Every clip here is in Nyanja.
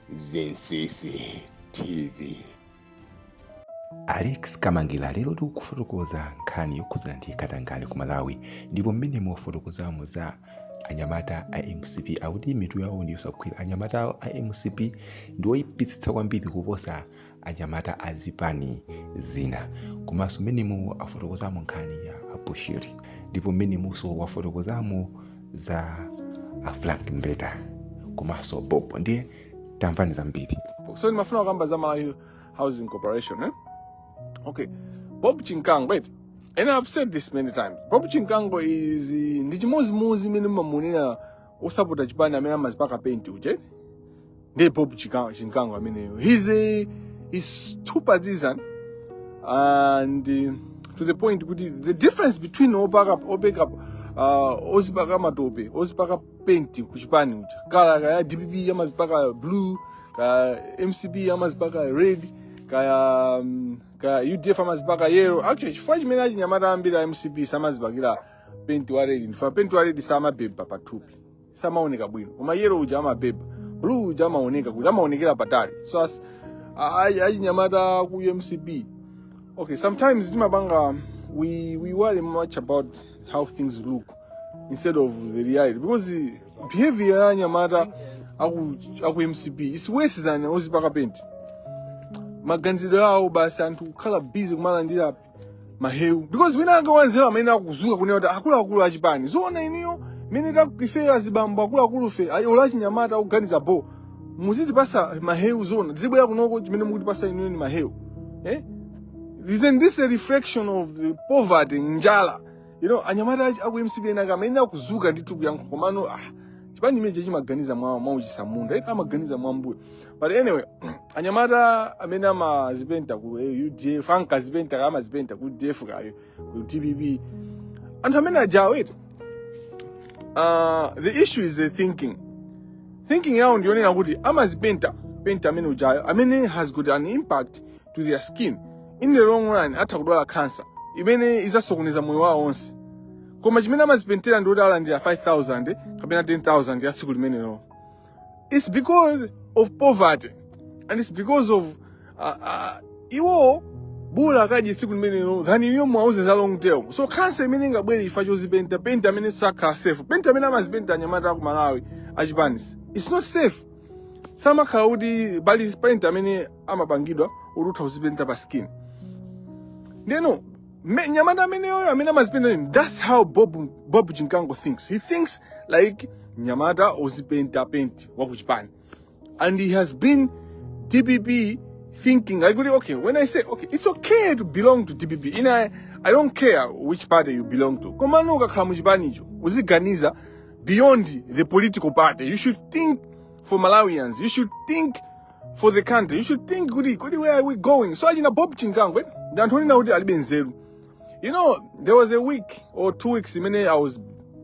Zinsisi TV. Alex Kamangila lero akufotokoza nkhani yokhudzana ndi katangale ku Malawi ndipo mmene mu afotokozamo za anyamata a mcp akuti mitu yawo ndi yosagwira anyamata a mcp ndi oyipitsitsa kwambiri kuposa anyamata a zipani zina komanso mmene mu afotokozamo nkhani ya abushiri ndipo mmene munso afotokozamo za afrank mbeta komanso bobo ndiye tamvani zambiri so ndimafuna kukamba za malawi housing corporation eh? okay bob chimkango eti and i've said this many times bob chimkango is ndi chimodzimodzi mmene mumamunena osapota chipani amene amazipaka paint uje ndi bob Chika- chimkango ameneyo he's a he's too partisan and uh, to the point kuti the difference between opaka opeka uh, ozipaka matope ozipaka paint kuchipani uja kala kaya dpp amazipaka blue kaya mcp amazipaka red kaya um, kaya udf amazipaka yellow actually chifukwa chimene achinyamata ambiri a mcp samazipakira penti wa red nchifukwa penti wa red samabeba pathupi samaoneka bwino koma yellow uja amabeba blue uja amaoneka kuti amaonekera patali so as ayi achinyamata aku mcp okay sometimes timapanga we we worry much about how things look instead of the reality because the behavior ya anyamata aku aku mcp is worse than ozipaka penti maganizidwe awo basi anthu kukhala busy kumalandira mahewu because wina wake wanzeru amene akuzuka kunena kuti akuluakulu achipani zoona inuyo mene ifeyo azibambo akuluakulufe ola achinyamata akuganiza bho muzitipasa mahewu zoona tizibwera kunoko chimene mukutipasa inuyo ndi mahewu eh? isn't this a reflection of the poverty njala you know anyamata aku mcp enaka amene akuzuka ndithu kuyankha komano ah, chipani imenechi chimaganiza mwa mwauchisamunda amaganiza mwambuyo but anyway anyamata amene amazipenta ku eh, udf ankazipenta kaya amazipenta ku udf kaya ku dpp anthu amene ajawo eti uh, the issue is the thinking thinking yawo ndiyonena kuti amazipenta penta amene ujayo amene has got an impact to their skin in the long run atha kudwala cancer imene izasokoneza moyo wawo onse koma chimene amazipentera ndi kuti alandire 5000 kapena 10000 ya tsiku limenelo it's because of poverty and it's because of uh, uh, iwo bola akadye tsiku limenelo than inuyo mwauze za long term so khansa imene ingabwere chifukwa chozipenta penti amene sakhala safe penti amene amazipenta anyamata aku malawi achipani so it's not safe samakhala kuti pali penti amene amapangidwa kuti utha kuzipenta pa skin ndeno Me- nyamata ameneyoyo amene amazipenda ine that's how bob, bob chinkango thinks he thinks like nyamata ozipenta penti wakuchipani and he has been dpp thinking like really, okay when i say okay it's okay to belong to dpp ine I, i don't care which party you belong to komano ukakhala muchipanicho uziganiza beyond the political party you should think for malawians you should think for the country you should think kuti kodi where are we going so achina bob chingangwe ndi anthu onena kuti alibe nzeru you know there was a week or two weeks imene i was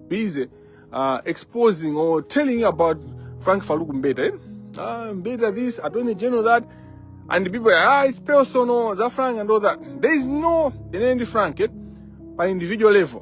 busy uh, exposing or telling you about frank faluku mbeta eh? uh, mbeta this attorney general that and people are, ah it's personal za frank and all that there is no ene ndi frank eh? pa individual level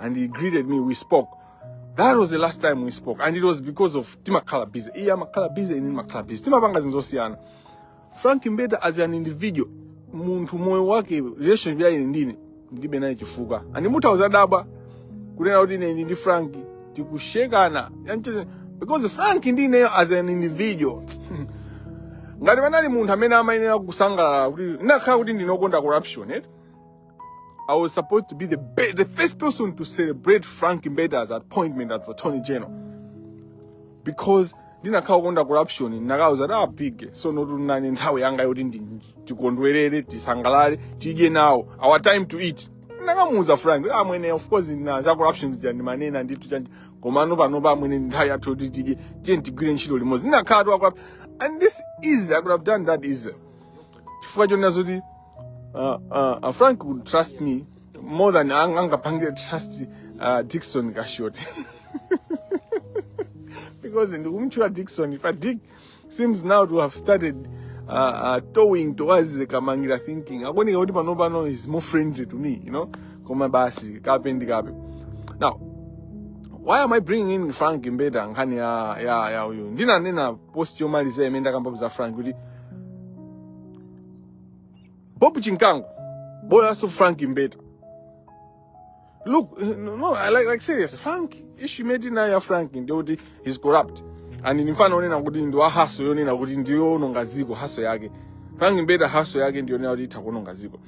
and he greeted me. We spoke. That was the last time we spoke, and it was because of timakhala busy. Iye amakhala busy ine ndimakhala busy. Timapanga zinzosiyana. Frank Mbeta as an individual, munthu moyo wake relationship yake ndine ndilibe naye chifukwa. And mutha kuzadabwa kunena kuti ine ndi Frank tikusiyana. Yanche- Because Frank ndine as an individual. ngati panali munthu amene amayenera kusangalala kuti ndinakhala kuti ndine okonda corruption eh? I was supposed to be the, the first person to celebrate Frank Mbeta's appointment as Attorney General. Because ndinakhala okonda corruption ndinakauza kuti a big ah, so ndi tinani nthawi yanga yoti tikondwerere tisangalale tidye nawo our time to eat ndakamuuza frank kuti amwene ah, of course na za corruption zija ndimkanena ndithu chandi komano panopa amwene nthawi yathu yoti tidye tiye tigwire ntchito limodzi ndinakhala ndi wakuba and this easy i could have done that easy chifukwa chonena zoti uh, uh, uh, frank would trust me more than ang- angapangire trust uh, dikson kashoti because ndikumtchula dikson but dick seems now to have started uh, uh, towing towards the kamangira thinking akuoneka kuti pano pano is more friendly to me you know koma basi kape ndi kape now why am i bringing in frank mbeta nkhani ya ya ya uyu ndinanena post yomaliza imene ndakamba za frank kuti Bob Chinkango, bola haso ya Frank Mbeta. Look, no, like, like serious, Frank, issue imeneyi ya Frank nde he's corrupt. And ndi mfana onena kuti ndi wa haso yonena kuti ndiyo ononga dziko haso yake. Frank Mbeta haso yake ndiyo onena kuti itha kuononga dziko.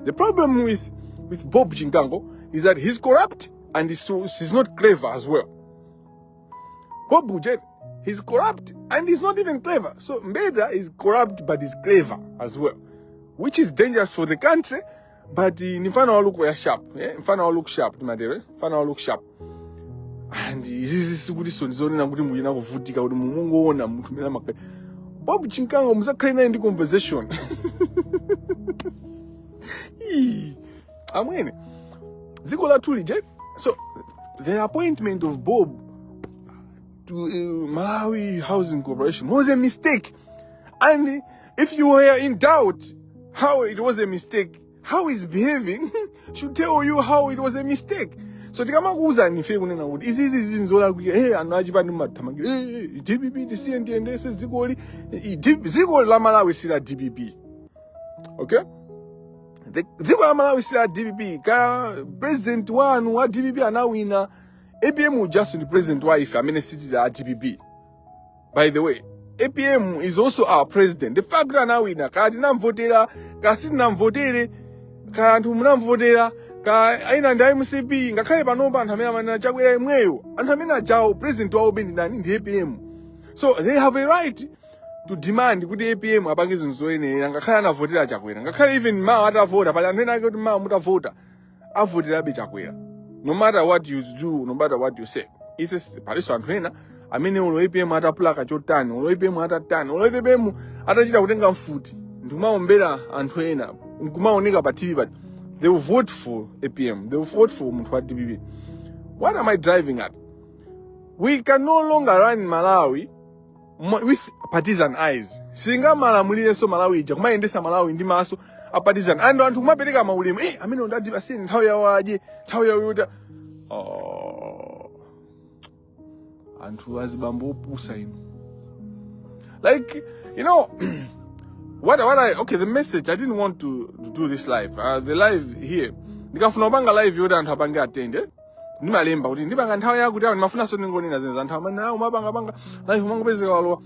The problem with with Bob Chinkango is that he's corrupt and he's, so, he's not clever as well. What Bujere? He's corrupt and he's not even clever. So Mbeda is corrupt but he's clever as well, which is dangerous for the country. But uh, mfano look where sharp, eh? mfano look sharp, madere, mfano look sharp. And izizi sikuti sonizoni na kuti muyina kuvutika kuti mumungu ona mtu mena makwe. Bob Chinkango musakhale naye ndi conversation. amwene dziko lathu lija so the appointment of bob to uh, malawi housing corporation was a mistake and if you were in doubt how it was a mistake how he's behaving should tell you how it was a mistake so tikamakuwuzani ife kunena kuti izi izi izi nzolakwika e anthu achipani mumathamangira e dpp tisiye tiyendetse dzikoli Eh, eh, dziko la malawi si la dpp okay The- dziko la malawi si la dpp kaya president wanu wa dpp anawina apm ujaso ndi president wa ife amene sitili a dpp by the way apm is also our president the fact kuti anawina kaya tinamvotera kaya sitinamvotere kaya anthu munamvotera kaya ena ndi a mcp ngakhale panopa anthu amene amanena chakwera yemweyo anthu amene ajawo president wawo be ndi ndani ndi apm so they have a right to demand kuti apm apange zinthu zoyenera ngakhale anavotera chakwera ngakhale even mawa atavota pali anthu ena ake kuti mawa mutavota avoterabe chakwera no matter what you do no matter what you say ise palinso anthu ena amene olo apm atapulaka chotani olo apm atatani olo apm atachita kutenga mfuti ndikumaombera anthu ena nkumaoneka pa tv but they will vote for apm they will vote for munthu wa dpp what am i driving at we can no longer run malawi mwa- with partisan eyes singamalamulirenso malawi ija kumayendesa malawi ndi maso a partisan and anthu kumapereka maulemu eh, amene ndati asiyeni nthawi yawo adye nthawi yawo yodya oh. anthu azibambo opusa inu like you know what what I okay the message I didn't want to, to do this live uh, the live here ndikafuna kupanga live yoti anthu apange attend eh? ndimalemba kuti ndipanga nthawi yakuti awo ndimafunanso ndingonena zinthu za nthawi mani awo mapangapanga live umangopezeka walowa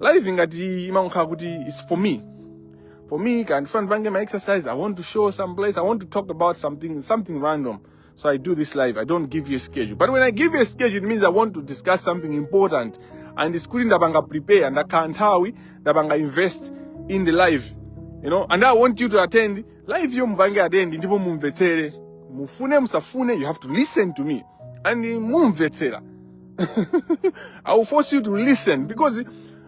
live ngati imangokhala kuti its for me for me kaya ndifuna ndipange ma exercise i want to show some place i want to talk about something something random so i do this live i don't give you a schedule but when i give you a schedule it means i want to discuss something important and it's kuti ndapanga prepare ndakhala nthawi ndapanga invest in the live you know and i want you to attend live yo mupange attend ndipo mumvetsere mufune musafune you have to listen to me and mumvetsera i will force you to listen because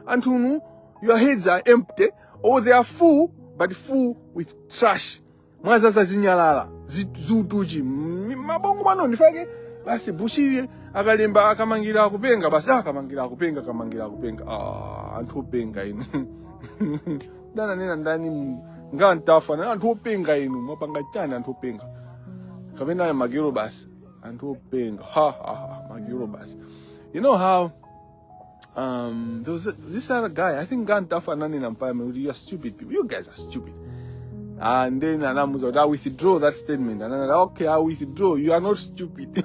anthu inu your heads are empty or they are full but full with trash mwazaza zinyalala zi- ziutuchi M- mabongo mwanu ndifake basi bushiri akalemba a Kamangila akupenga basi a Kamangila akupenga a Kamangila akupenga ah, anthu openga inu dananena ndani mu- nga mtafu na anthu openga inu mwapanga chani anthu openga kapena ayo magiro basi anthu openga ha ha ha magiro basi you know how um there was a, this other guy i think nga mtafu ananena m'parliament kuti you are stupid people you guys are stupid and then anamuuza kuti a withdraw that statement and anati okay i withdraw you are not stupid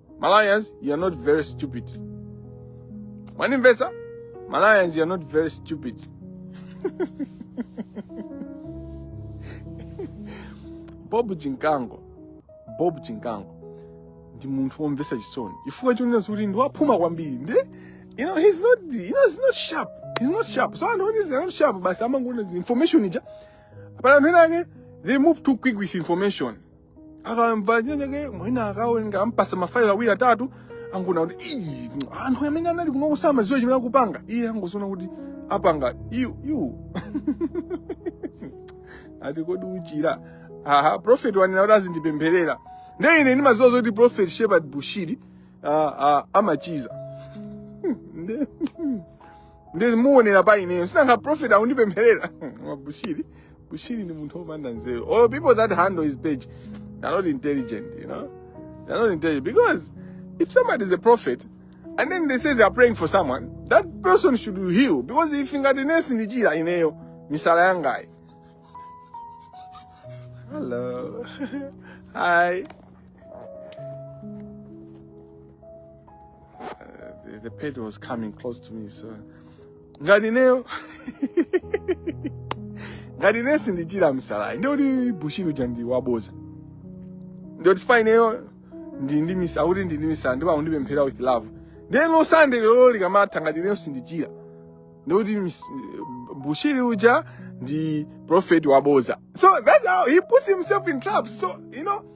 Malawians, you are not very stupid. One investor, Malawians, you are not very stupid. Bob Chimkango, Bob Chimkango ndi munthu womvetsa chisoni chifukwa chonena kuti ndi waphuma kwambiri ndi you know he's not you know he's not sharp he's not sharp so anthu onezi not sharp basi amangoona information ija ampasa anthu ena ake they move too quick with information akamva chinachake mwina akawerenga ampasa mafailo awiri atatu angoona kuti "Ii, anthu amene anali kunoko samaziwa chimene akupanga iye angoziona kuti apanga yu yu ati kodi uchira aha prophet wanena kuti azindipempherera nde ine ndimaziwa zoti prophet shepard bushiri ah, ah, amachiza nde ndimuonera pa ineyo si nanga prophet akundipempherera a bushiri bushiri ndi munthu opanda nzeru all people that handle his page they're not intelligent you know they're not intelligent because if somebody is a prophet and then they say they are praying for someone that person should heal because if ngati ine sindichira ineyo misala yangayi hello hi the, the pet was coming close to me so ngati ineyo ngati ine sindichira misalayi ndikuti bushiri uja ndi waboza ndikuti chifukwa ineyo ndi ndi misa akuti ndi ndi misala ndipo akundipemphera with love ndiye la sande lero likamatha ngati ineyo sindichira ndikuti mis- bushiri uja ndi prophet waboza so that's how he puts himself in traps so you know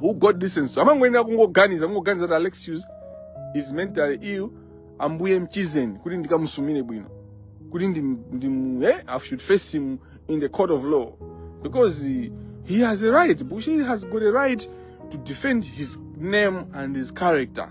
who god listens to amangoyenera kungoganiza kungoganiza kuti alexius is mentally ill ambuye mchizeni kuti ndikamusumire bwino kuti ndim, ndim, eh, i should face him in the court of law because he, he has a right bushiri has got a right to defend his name and his character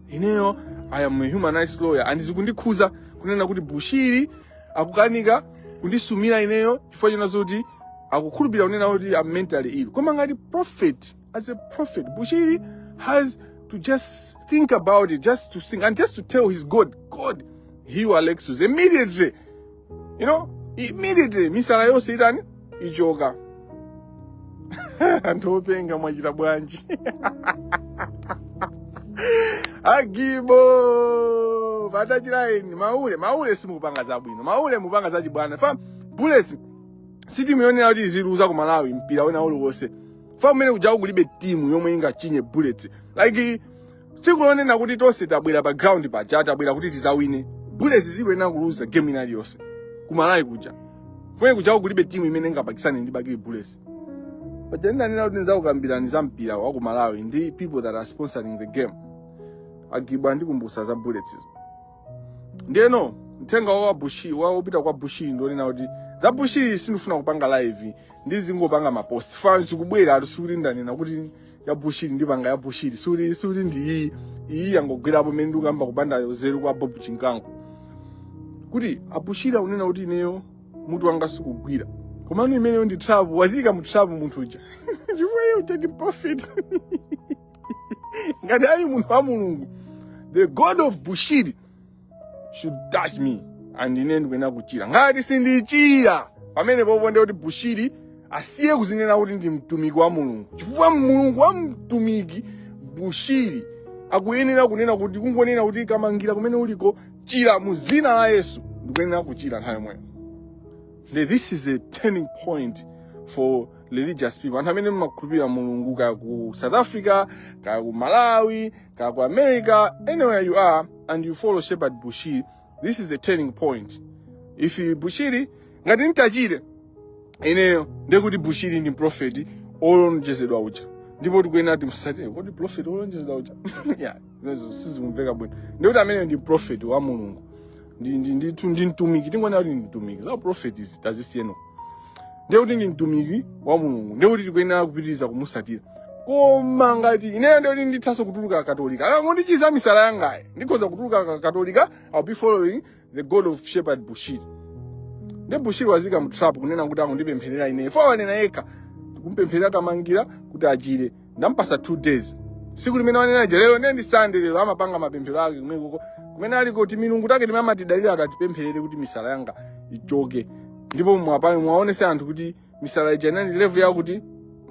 ineyo i am a human rights lawyer and zikundikhuza kunena kuti bushiri akukanika kundisumira ineyo chifukwa china zoti akukhulupirira kunena kuti I'm mentally ill koma ngati prophet as a prophet bushiri has to just think about it just to think and just to tell his god god heal alexius immediately you know immediately misala yonse itani ichoka anthu openga mwachita bwanji agibo pa touchline maule maule simukupanga zabwino maule mupanga zachibwana fam bullets si timu yonena kuti iziluza ku malawi mpira wina uliwonse fam umene kujako kulibe timu yomwe ingachinye bullets like tsiku lonena kuti tonse tabwera pa ground paja tabwera kuti tizawine bullets sikuyenera kuluza game ina iliyonse kumalawi kuja kumene kuja kulibe timu imene ingapakisane ndi bakili bullets paja ndinanena kuti ndizakukambirani za mpira wa kumalawi ndi people that are sponsoring the game agibo andikumbusa za bullets izo ndiyeno mthenga wa bushiri opita kwa bushiri ndi onena kuti za bushiri sindifuna kupanga live ndizingopanga mapost fans kubwera ati sikuti ndanena kuti ya bushiri ndipanga ya bushiri sikuti ndi iyi iyi yangogwerapo mene ndikukamba kupanda nzeru kwa bob chinkango kuti abushiri akunena kuti ineyo mutu wanga sikugwira komano imeneyo ndi trap wazika mu trap munthu uja chifukwa uja ndi prophet ngati ali munthu wa mulungu the god of bushiri should touch me and ine ndikuyenera kuchira ngati sindichira pamene pompo ndiye kuti bushiri asiye kuzinena kuti ndi mtumiki wa mulungu chifukwa mulungu wa mtumiki bushiri akuyenera kunena kuti kungonena kuti kamangira kumene uliko chira mu zina la yesu ndikuyenera kuchira nthawi yomweyo Now, this is a turning point for religious people anthu amene mmakhulupirira mulungu kaya ku south africa kaya ku malawi Kaya ku America, anywhere you are, and you follow Shepherd Bushiri, this is a turning point. If Bushiri, ngati nitachire, ineyo, ndekuti Bushiri ndi mprofeti, olonjezedwa uja. Ndipo tikuyenera timsatire, kodi mprofeti olonjezedwa uja? Yeah, zimenezo sizikumveka bwino. Ndekuti ameneyo ndi mprofeti wa Mulungu. ndi ndi ndithu ndi mtumiki tingona kuti ndi mtumiki za profeti izi tazisiyeno ndiye kuti ndi mtumiki wa mulungu ndiye kuti tikuyenera kupitiriza kumusatira koma ngati ineyo ndiye kuti ndithanso kutuluka akatolika akangondichiza misala yangayi ndikhoza kutuluka akatolika i'll be following the god of shepherd bushiri ndi bushiri wazika mu trap kunena kuti akundipempherera ineyo fo wanena yekha tikumpempherera tamangira kuti achire ndampasa two days siku limene wanena ija lero ndiye ndi sande lero amapanga mapemphero ake komweko kumene ali kuti milungu take timene amatidalira ati atipempherere kuti misala yanga ichoke ndipo mwapani muwaonese anthu kuti misala ija inali level yakuti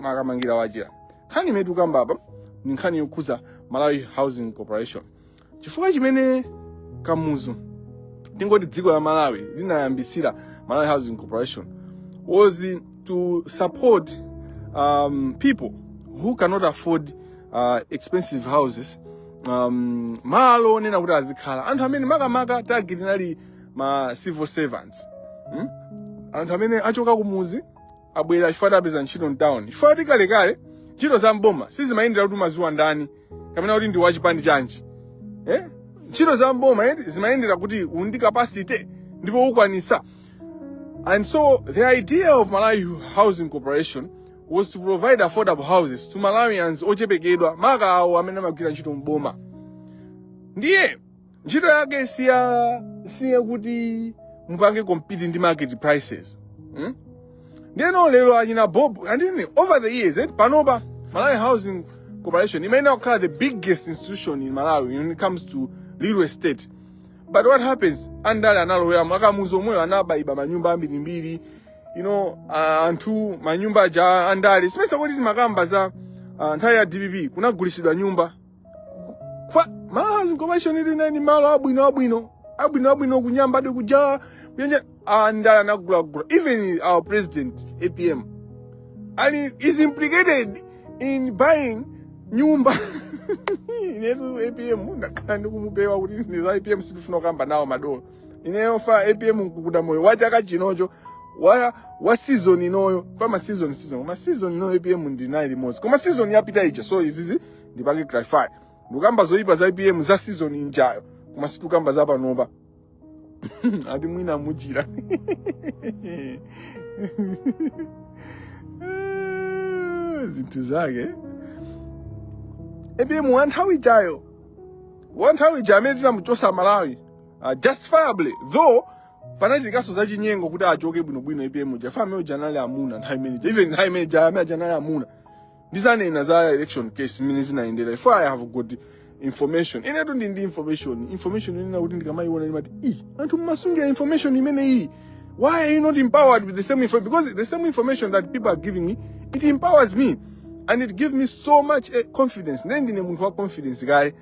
makamangira wachira nkhani imene tikukamba apa ni nkhani yokhuza malawi housing corporation chifukwa chimene kamuzu tingoti dziko la malawi linayambisira malawi housing corporation was to support um, people who cannot afford uh, expensive houses um, malo onena kuti azikhala anthu amene makamaka target inali ma civil servants hmm? anthu amene achoka kumuzi abwera chifukwa apeza ntchito mtown chifukwa kuti kalekale ntchito za mboma sizimayendera kuti umaziwa ndani kapena kuti ndi wachipani chanji eh? ntchito za mboma eh, zimayendera kuti uli ndi capacity ndipo ukwanisa and so the idea of malawi housing corporation was to provide affordable houses to malawians ochepekedwa maka awo amene amagwira ntchito mboma ndiye ntchito yake si ya si yakuti mupange compete ndi market prices hmm? ndeno lero achina bob and then over the years eh, panopa malawi housing corporation imayenera kukhala the biggest institution in malawi when it comes to real estate but what happens andale analoweramo akamuzu omweyo anabaiba manyumba ambirimbiri you know uh, anthu manyumba aja andale simesa kuti timakamba za uh, nthawi ya dpp kunagulisidwa nyumba Malawi Housing Corporation ili ni malo abwino abwino abwino abwino kunyamba ndi kuja kuyenje andale anagulagula even our president apm ali is implicated in buying nyumba inetu apm ndakhala ndikumupewa kuti ndi za apm sitifuna kukamba nawo madolo ineyo fa apm nkukamba moyo wa chaka chinocho wa wa season inoyo fa ma season season ma season inoyo apm ndinaye limodzi koma season yapita ija so izizi ndipange clarify ndikukamba zoyipa za apm za season injayo koma sitikukamba za panopa ati mwina mujira zinthu zake apm wa nthawi ijayo wa nthawi ija amene tinamuchosa amalawi uh, justifiably though panachitikanso za chinyengo kuti achoke bwinobwino apm uja fa amene uja anali amuna nthawi imene ija even nthawi imene ija amene aja anali amuna ndizanena za election case mmene zinayendera if i have got information inetu ndi ndi information information inena kuti ndikamayiona ndimati i anthu mmasungira information imene iyi why are you not empowered with the same information because the same information that people are giving me it empowers me and it gives me so much eh, confidence ndiye ndine munthu wa confidence kale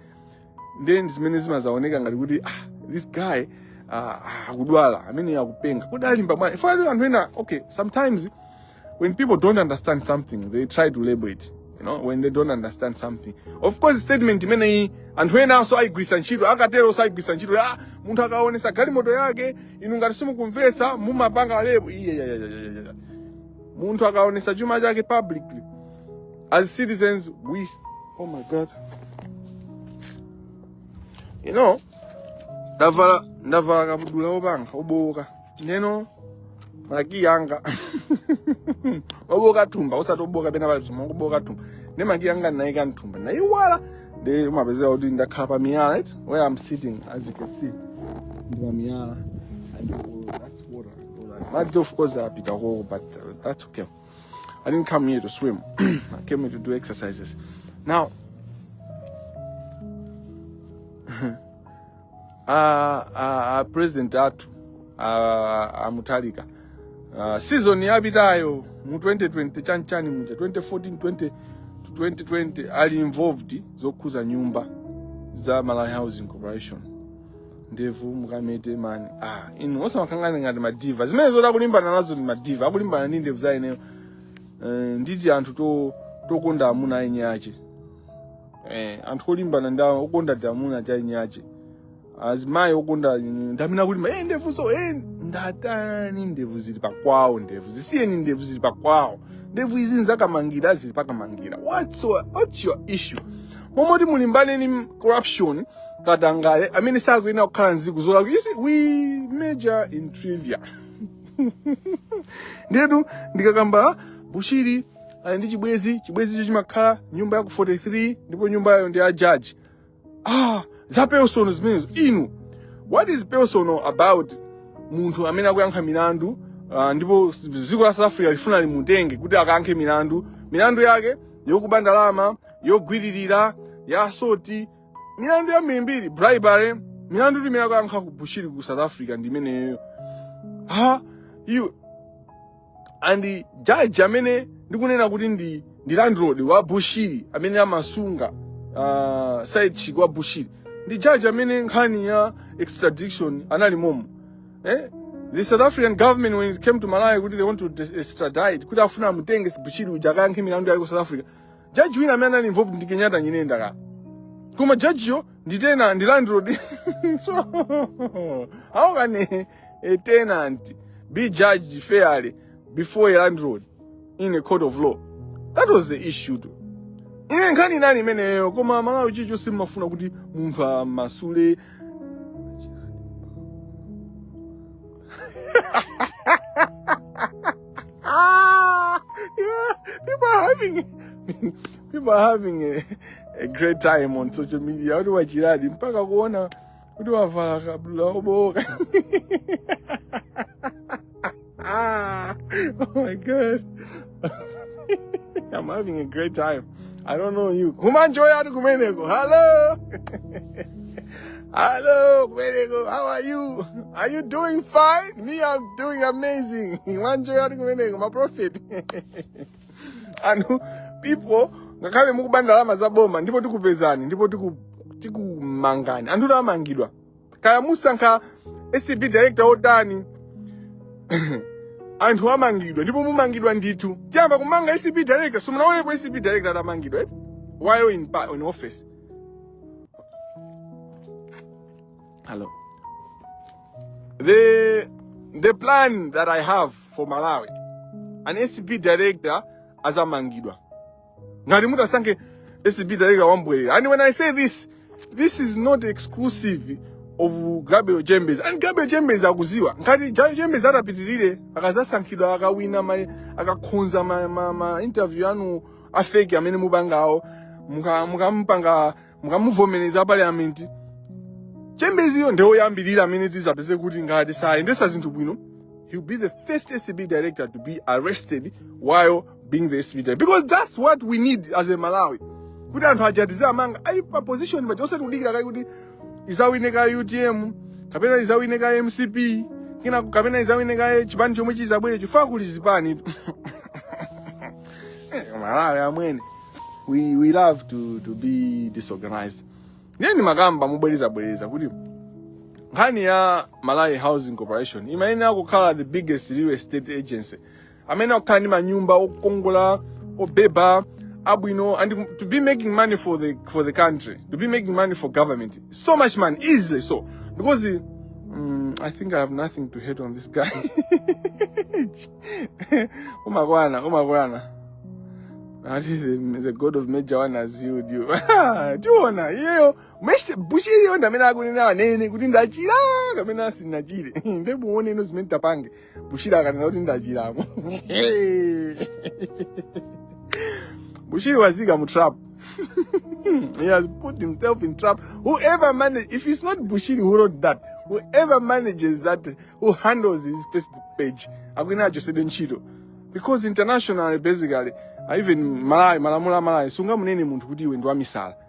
ndiye zimenezi zimazaoneka ngati kuti ah, this guy ah, ah, akudwala ameneyu akupenga kudalimba mwana ifo ali anthu ena okay sometimes when people don't understand something they try to label it you know when they don't understand something of course statement imeneyi anthu enanso ayigwirisa ntchito akateroso ayigwirisa ntchito ah munthu akaonesa galimoto yake inu ngati simukumvetsa mumapanga lebo iye ya, ya, ya, ya, ya. munthu akaonesa chuma chake publicly as citizens we oh my god you know ndavala ndavala kabudula wopanga wobowoka ndiyeno makiyi anga obooka thumba osati obooka pena pali zomwe kubooka thumba nde makiyi anga ndinayika mthumba ndayiwala nde umapezeka kuti ndakhala pa miyala right where i'm sitting as you can see ndi pa miyala and all that's water all that. madzi of course apita koko but uh, that's okay i didn't come here to swim i came here to do exercises now a, a, a president athu a, a Mutharika uh, season yapitayo mu 2020 chanchani muja 2014 to 2020 ali involved zokhuza nyumba za Malawi Housing Corporation ndevu mukamete mani ah, inu osamakhala ngati madiva zimene zoti akulimbana nazo ndi madiva akulimbana ndi ndevu za ineyo uh, nditi anthu to tokonda amuna eni ache eh, anthu olimbana nda okonda za amuna chainache azimayi okonda mm, ndamene akulima eh, ndevuzo eh, ndatani ndevu zili pakwawo ndevu zisiyeni ndevu zili pakwawo ndevu izi nzakamangira zili pakamangira what's your, what's your issue mmomoti mulimbane ni corruption katangale amene sakuyenera kukhala mdziko zolakwa you see we major in trivia ndetu ndikakamba bushiri ali ndi chibwenzi chibwenzicho chimakhala nyumba ya ku 43 ndipo nyumbayo ndi ya judge ah za personal zimenezo inu what is personal about munthu amene akuyankha milandu uh, ndipo s- dziko la south africa lifuna limutenge kuti akayankhe milandu milandu yake yokuba ndalama yogwiririra ya assault milandu yambirimbiri bribery milandu ndi imene akuyankha ku bushiri ku south africa ndi imeneyo ha iwe and judge amene ndikunena kuti ndi ndi landlord wa bushiri amene amasunga uh, side chick wa bushiri ndi judge amene nkhani ya extradition anali momo eh? the south african government when it came to malawi kuti they want to dis- extradite kuti afuna amutenge bushiri uja akayankhe milandu yake ku south africa judge wina amene anali involved ndi kenyatta nyirenda koma judgeyo ndi tenant ndi landlord so how can a, a tenant be judged fairly before a landlord in a court of law that was the issue tu ine nkhani inali imeneyo koma amalawi chilichonse mmafuna kuti munthu ammasule ah, yeah, people are having people are having a, a great time on social media. Watu wa jirani mpaka kuona watu wavala kabla oboka. Ah, oh my god. I'm having a great time. I don't know you. Kumanjoya ati Kumeneko. Hello. Hello, Kumeneko. How are you? Are you doing fine? Me, I'm doing amazing. Kumanjoya ati Kumeneko. My prophet. anthu people, ngakhale mukuba ndalama za boma ndipo tikupezani ndipo tikumangani anthu amangidwa kaya musankha acb director otani anthu amangidwa ndipo mumangidwa ndithu tiyamba kumanga acb director simunaonepo acb director atamangidwa eti while in, pa- in office hello the the plan that i have for malawi an acb director azamangidwa ngati mutasankhe acb director wambwerera and when i say this this is not exclusive of gabriel chembezi and gabriel chembezi akudziwa ngati gabriel chembezi atapitirire akazasankhidwa akawina ma- akakhonza ma, ma, ma interview anu afeki amene mupangawo muka- mukamupanga mukamuvomereza parliament chembeziyo ndiye oyambirira amene tizapeze kuti ngati sayendesa zinthu bwino he'll be the first acb director to be arrested while being the SCB director. because that's what we need as amalawi kuti anthu aja tizamangawaika pa position paja osati kudikira kaye kuti izawine ka utm kapena izawine ka mcp kina kapena izawine ka chipani chomwe chizabwere chifukwa kuli zipani Eh, malawi amwene we, we love to, to be disorganized ndiye ndimakamba mubwerezabwereza kuti nkhani ya malawi housing corporation imayenera kukhala the biggest real estate agency amene akukhala ndi manyumba okongola obeba abwino and to be making money for the for the country to be making money for government so much money easily so because mm, i think i have nothing to hate on this guy umakwana umakwana ati the, the god of major one has healed you tiona iyeyo major bushiri yo ndamene akunena anene kuti ndachira kamene asinachire nde muone ino zimene tapange bushiri akanena kuti ndachira mo bushiri wazika mu trap he has put himself in trap whoever manage if it's not bushiri who wrote that whoever manages that who handles his facebook page akuyenera achosedwe ntchito because internationally basically even malawi malamulo a malawi sungamunene munthu kuti iwe ndi wamisala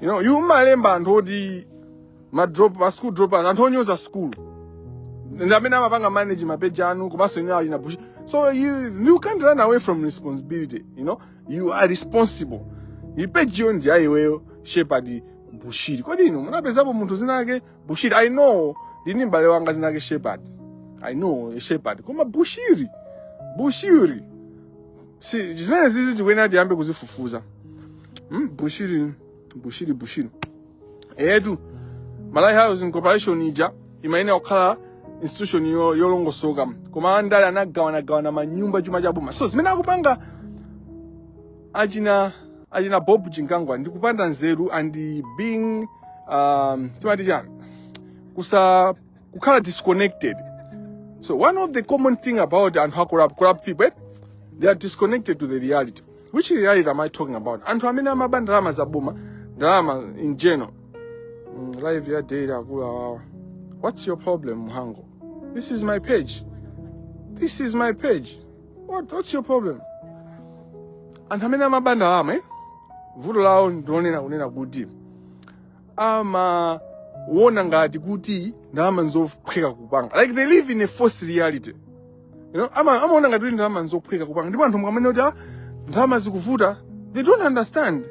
you know mumalemba anthu oti ma drop ma school dropouts anthu onyoza school ndi amene amapanga manage mapeji anu komanso inu aneneri bushiri so you, you can't run away from responsibility you know you are responsible pejiyo ndi ya iweyo shepard bushiri kodi inu munapezapo munthu zina lake bushiri i know ndili ndi mbale wanga zina lake shepard i know a shepard koma bushiri bushiri zinthu zimene zizi tikuyenera tiyambe kuzifufuza mm, bushiri bushiri bushiri eetu malawi housing corporation ija imayenera kukhala institution yo- yolongosoka koma andale anagawanagawana manyumba chuma cha boma so zimene akupanga achina achina bob chimkango ndi kupanda nzeru and being um, timati chani kusa kukhala disconnected so one of the common thing about anthu a corrupt, corrupt people eh, they are disconnected to the reality which reality am i talking about anthu amene amaba ndalama za boma ndalama in general mm, live ya data akulu awawa what's your problem mhango this is my page this is my page what, what's your problem anthu amene amaba ndalama eh? vuto lawo ndi lonena kunena kuti amaona ngati kuti ndalama nzophweka kupanga like they live in a false reality you know ama amaona ngati kuti ndalama nzophweka kupanga ndipo anthu mukamanena kuti ah, ndalama zikuvuta they don't understand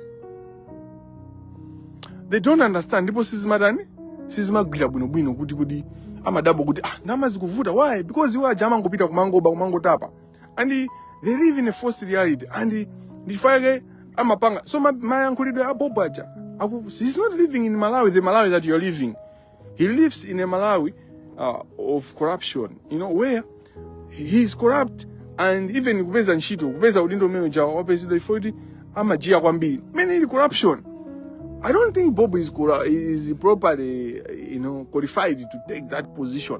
they don't understand ndipo sizimatani sizimagwira bwinobwino kuti kuti amadabwa kuti ah ndalama zikuvuta why because iwo aja amangopita kumangoba kumangotapa and they live in a false reality and ndi chifukwa chake amapanga so ma- mayankhulidwe a bob aja aku- he's not living in malawi the malawi that you're living he lives in a malawi uh, of corruption you know where he is corrupt and even kupeza ntchito kupeza udindo umene uja waupeza ndi foti amajiya kwambiri mene ili corruption I don't think Bob is, cora- is properly, you know, qualified to take that position.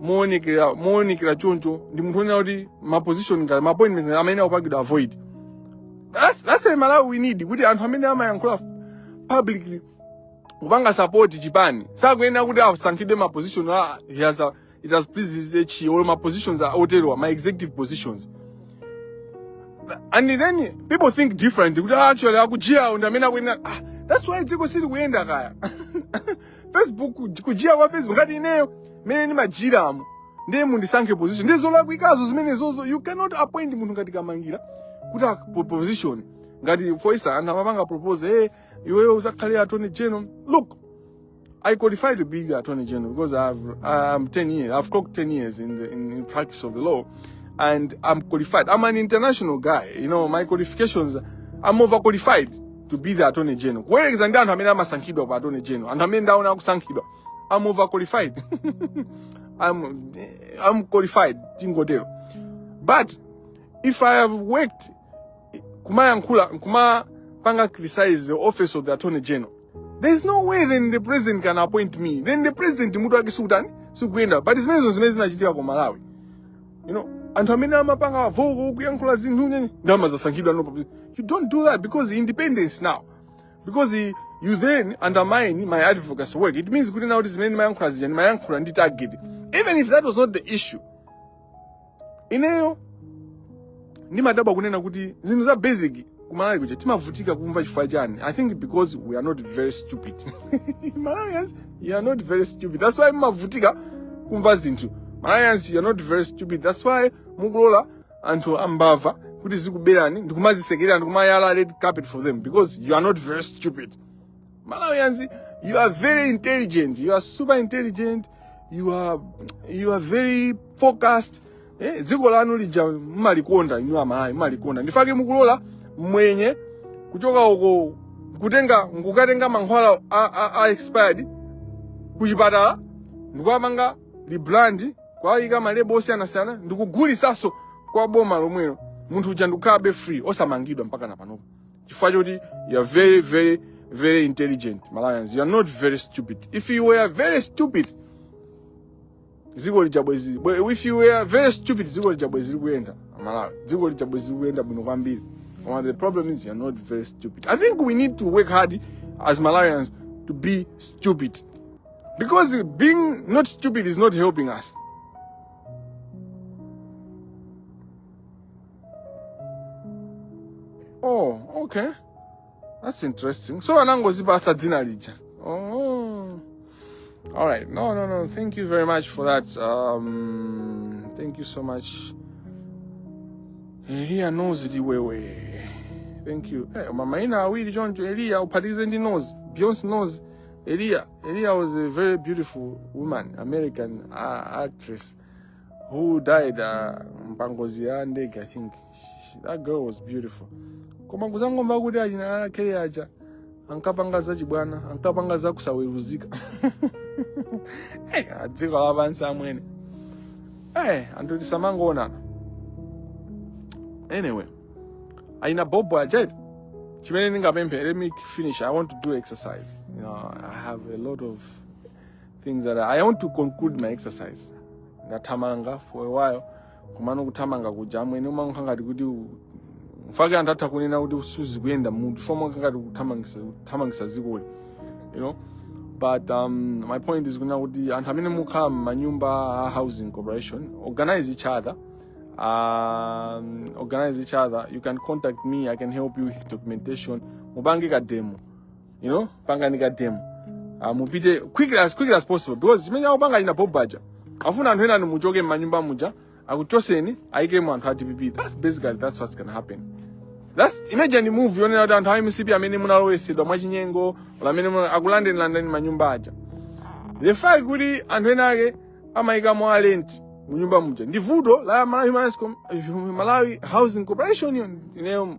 moonekera moonekera choncho ndi munthu onena kuti ma position ngati ma appointments ngati amene akupangidwa a void that's, that's a malawi we need kuti anthu amene amayankhula publicly kupanga support chipani sakuyenera kuti asankhidwe ma position a he has a, it has pleased his HE or ma positions a oterowa ma executive positions and then people think different kuti ah, actually akujiyawo ndi amene akuyenera ah, that's why dziko silikuyenda kaya facebook kujiya kwa facebook ngati ineyo mene ndimajiramo ndiye mundisankhe position ndi zolakwikazo zimenezozo you cannot appoint munthu ngati kamangira kuti ak- position ngati foti sa anthu amapanga propose hey, iweyo uzakhale attorney general look I qualify to be the attorney general because I've I'm 10 years. I've clocked 10 years in the in, in practice of the law, and I'm qualified. I'm an international guy. You know, my qualifications. I'm overqualified. to be the attorney general kuwerekeza ndi anthu amene amasankhidwa a attorney general anthu amene ndaona akusankhidwa I'm overqualified I'm I'm qualified tingotero but if i have worked kumayankhula kumapanga criticize the office of the attorney general there is no way then the president can appoint me then the president mutu wake sukutani sukuyenda but zimenezo ndi zimene zinachitika ku malawi you know anthu amene amapanga vocal kuyankhula zinthu nyenye ndi kumazasankhidwa no you don't do that because independence now because i- you then undermine my advocacy work it means kuti nakuti zimene ndimayankhula zija ndimayankhula ndi target even if that was not the issue ineyo ndimadabwa kunena kuti zinthu za basic kumalawi kuja timavutika kumva chifukwa chani i think because we are not very stupid malawians you are not very stupid that's why mumavutika kumva zinthu malawians you are not very stupid that's why mukulola anthu ambava kuti azikuberani ndikumazisekerera ndikumayala red carpet for them because you are not very stupid Malawians, you are very intelligent. You are super intelligent. You are you are very focused. Eh, dziko lanu lija mmalikonda inu amayi mmalikonda ndifake mukulola mwenye kuchoka uko nkukatenga mankhwala a, a, a expired kuchipatala ndikuwapanga rebrand kuwayika malebo osiyanasiyana ndikugulisanso kwa boma lomwelo munthu uja ndikukhalabe free osamangidwa mpaka na panopo chifukwa choti you are very very very intelligent malawians you are not very stupid if you were very stupid dziko lija bwezi bwe- if you were very stupid dziko lija bwezi likuyenda malawi dziko lija bwezi likuyenda bwino kwambiri koma the problem is you are not very stupid i think we need to work hard as malawians to be stupid because being not stupid is not helping us oh okay that's interesting so anangozipasa dzina lija oh all right no no no thank you very much for that um thank you so much eliya nozi liwewe thank you eh, mamaina awiri choncho eliya uphatikize ndi nozi beyonce nozi eliya eliya was a very beautiful woman american uh, actress who died uh, mpangozi ya ndege i think that girl was beautiful koma kuzangomva kuti a Chimwene ake aja ankapanga za chibwana ankapanga za kusaweruzika hey, za dziko lapansi amwene hey, anthu tisamangoonana anyway a Hannah Bobo aja chimene ndingapemphe let me finish i want to do exercise you know i have a lot of things that I want to conclude my exercise ndathamanga for a while kumano kuthamanga kuja amwene umangokhala ngati kuti u- mwake anthu atha kunena kuti suzi kuyenda munthu foma ngati kuthamangisa kuthamangisa zikoli you know but um, my point is kunena kuti anthu amene mukhala mmanyumba a housing corporation organize each other um, organize each other you can contact me i can help you with documentation mupange ka demo you know pangani ka demo uh, mupite quick as quick as possible because chimene akupanga a Hannah Bobo aja afuna anthu enanu muchoke m'manyumba muja akuchoseni ayikemo anthu a dpp that's basically that's what's gonna happen that's imagine move yonena kuti anthu a mcp amene munalowesedwa mwachinyengo or amene muna- akulandeni landani manyumba aja the fact kuti anthu ena ake amayikamo a rent munyumba muja ndi vuto la malawi, Human Rights Com- malawi housing corporation ineyo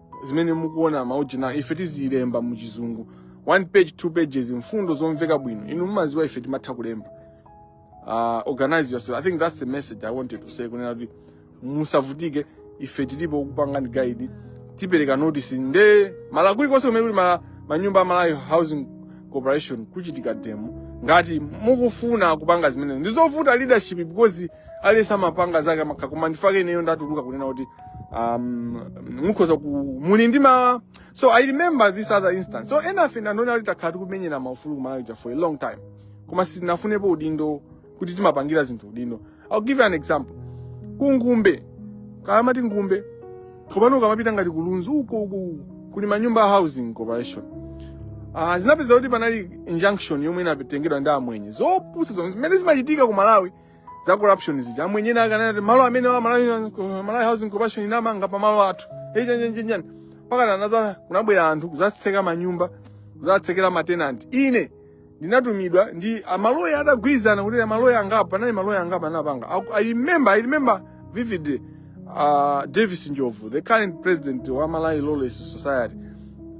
zimene mukuona maujina ife tizilemba mu chizungu one page two pages mfundo zomveka bwino inu mumaziwa ife timatha kulemba uh, organize yourself i think that's the message i wanted to say kunena kuti musavutike ife tilipo kukupangani guide tipereka notice nde malo kulikonse kumene kuli ma- manyumba a malawi housing corporation kuchitika demo ngati mukufuna kupanga zimene ndizovuta leadership because aliyense amapanga zake zake koma nchifake ineyo ndatuluka kunena kuti um mukhoza ku muli ndi ma so i remember this other instance so enafe nda Nthondwa takhala tikumenyera maufulu kumalawi ja for a long time koma sitinafunepo udindo kuti timapangira zinthu udindo i'll give you an example ku Ngumbe kaya amati Ngumbe komano ukamapita ngati ku Lunzu uko uko uko, kuli manyumba a housing corporation uh, zinapeza kuti panali injunction yomwe inatengedwa ndi amwenye zopusa zomwe zimene zimachitika ku malawi za corruption zija amwenyewo ankati malo amene wa Malawi Malawi Housing Corporation inamanga pa malo athu echenjenjenjani mpakana anaza kunabwera anthu kuzatseka manyumba kuzatsekera matenanti ine ndinatumidwa ndi maloya atagwirizana kuti maloya angapo anali maloya angapo anapanga Aku- i remember i remember vividly uh, davis njobvu the current president wa malawi law society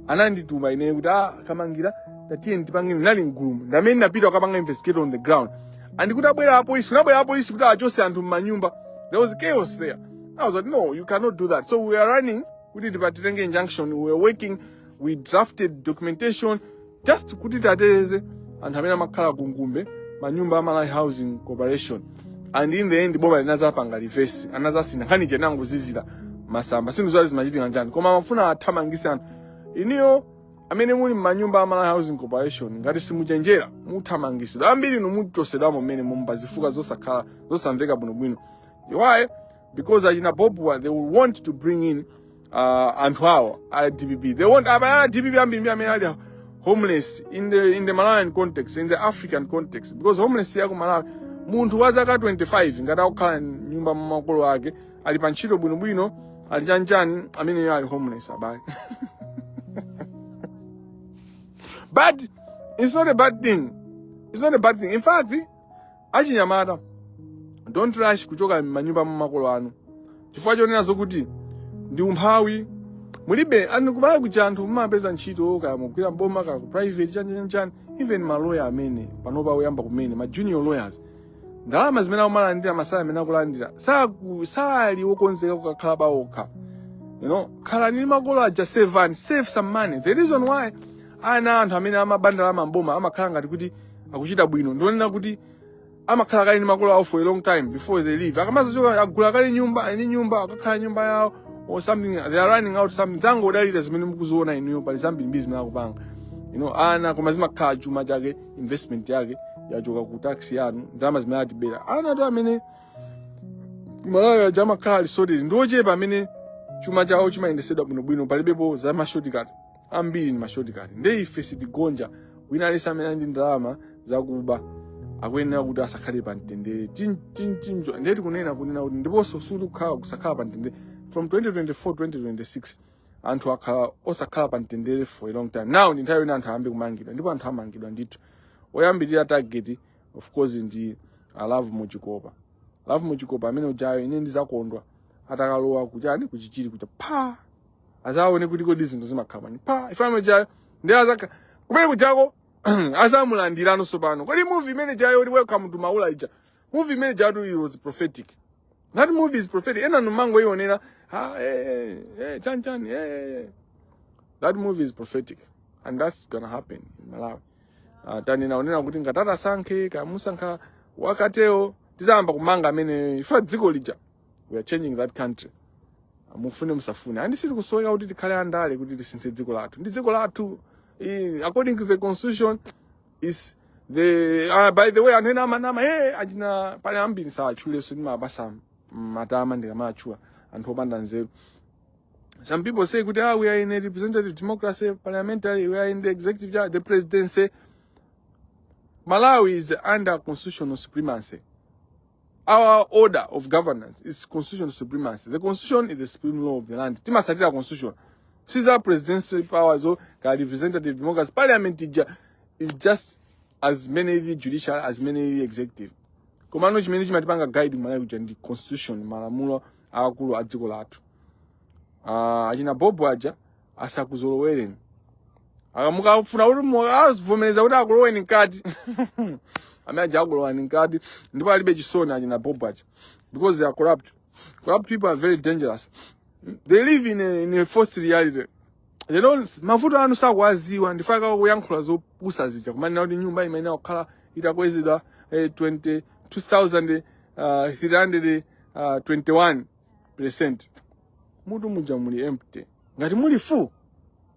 anandituma ine kuti ah kamangila tatiyeni tipange ndinali mgulumu ndamene ndinapita kukapanga investigate on the ground and kuti abwera apolisi kunabwera apolisi kuti achose anthu m'manyumba there was chaos there i was like no you cannot do that so we are running kuti tipatitenge injunction we were working we drafted documentation just kuti titeteze anthu amene amakhala kungumbe manyumba a malawi housing corporation and in the end boma linazapanga reverse anazasiya nkhani chinangozizira mwasamba sinthu zali zimachitika chani koma amafuna athamangise anthu inuyo amene muli m'manyumba a Malawi Housing Corporation ngati simuchenjera muthamangitsidwa ambiri inu muchosedwamo mmanyumba zifukwa zosakhala zosamveka bwinobwino why because achina bobuwa they will want to bring in uh, anthu awo a dpp they want abaya a dpp ambiri ndi amene ali homeless in the, in the malawian context in the african context because homeless yaku malawi munthu wa zaka 25 ngati akukhala nyumba ya makolo ake ali pa ntchito bwinobwino ali chanjani ameneyo ali homeless abale but it's not a bad thing it's not a bad thing in fact achinyamata don't rush kuchoka m'manyumba mwa makolo anu chifukwa chonena zokuti ndi umphawi mulibe ani kumalawi kuja anthu mumapeza ntchito kaya mugwira mboma kaya ku private chanjanjani even maloya amene panopa oyamba kumene ma junior lawyers ndalama zimene akumalandira masalary amene akulandira saku- sali wokonzeka kukakhala pawokha you know khalani ndi makolo aja save and save some money the reason why ana a anthu amene amaba ndalama mboma amakhala ngati kuti akuchita bwino ndi yonena kuti amakhala kale ndi makolo awo for a long time before they leave akamazachoka agula kale nyumba ali ndi nyumba akakhala nyumba yawo or something they are renting out something osangodalira zimene mukuziona inuyo pali zambiri mabizi zimene akupanga you know ana koma zimakhala chuma chake investment yake yachoka ku tax yanu ndalama zimene atibera anthu amene kumalawi kuja amakhala ali sorted ndi ochepa amene chuma chawo chimayendesedwa bwinobwino palibepo za mashortcut ambiri ni mashortcut nde ife sitigonja wina aliyense amene ali ndi ndalama zakuba akuyenera kuti asakhale pa mtendere Chin- chin- chinjo ndeti kunena kunena kuti ndiponso sikuti kukhala kusakhala pa mtendere from 2024 2026 anthu akhala osakhala pa mtendere for a long time now ndi nthawi yoti anthu ayambe kumangidwa ndipo anthu amangidwa ndithu oyambirira target of course ndi a love muchikopa a love muchikopa amene ujayo ine ndizakondwa atakalowa kuchani kuchichiri kuja apa azaone kuti kodi zinthu zimakhala bwanji pa ifano jayo ndi azake kumene kujako azamulandiranso pano kodi movie imene ijayo kuti welcome to maula ija movie imene ijayo it was prophetic That movie is prophetic. Enanu mumangoionera, ha, hey, eh, eh, hey, eh, chan chan, hey, hey. That movie is prophetic. And that's gonna happen in Malawi. Uh, tanena zonena kuti ngati atasankhe, kaya musankha, wakaleyo, tizayamba kumanga amene, ife dziko lija. We are changing that country. Mufune musafune. And sitikusoweka kuti tikhale andale kuti tisinthe dziko lathu. Ndi dziko lathu, according to the constitution, is the uh, by the way anthu ena amanama e achina pali ambiri sawatchulenso ndimapasa matama ndikamatchula anthu opanda nzeru some people say kuti ah, we are in a representative democracy parliamentary we are in the executive yeah, the presidency malawi is under constitutional supremacy our order of governance is constitutional supremacy the constitution is the supreme law of the land timasatira constitution siza presidency power zo ka representative democracy parliament ija is just as many the judicial as many the executive komano chimene chimatipanga guide malawi kuja ndi constitution malamulo akulu a dziko lathu uh, achina bobo aja asakuzolowereni mukafuna kuti mukavomereze kuti akuloweni mkati amene aja akulowani mkati ndipo alibe chisoni achina bob aja because they are corrupt corrupt people are very dangerous they live in a, in a false reality they don't mavuto anu sakuwaziwa ndiye akakhala kuyankhula zopusa zija kumanena kuti nyumba imene akukhala idakwezedwa eh, 20 2321 percent mutu muja muli empty ngati muli full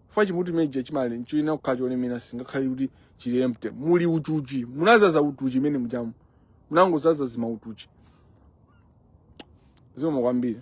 fa chimutu chimene chija chili nchina kukhala cholemera singakhale kuti chili empty muli utuchi munazaza utuchi mmene mujamu munangozaza zima utuchi zikomo kwambiri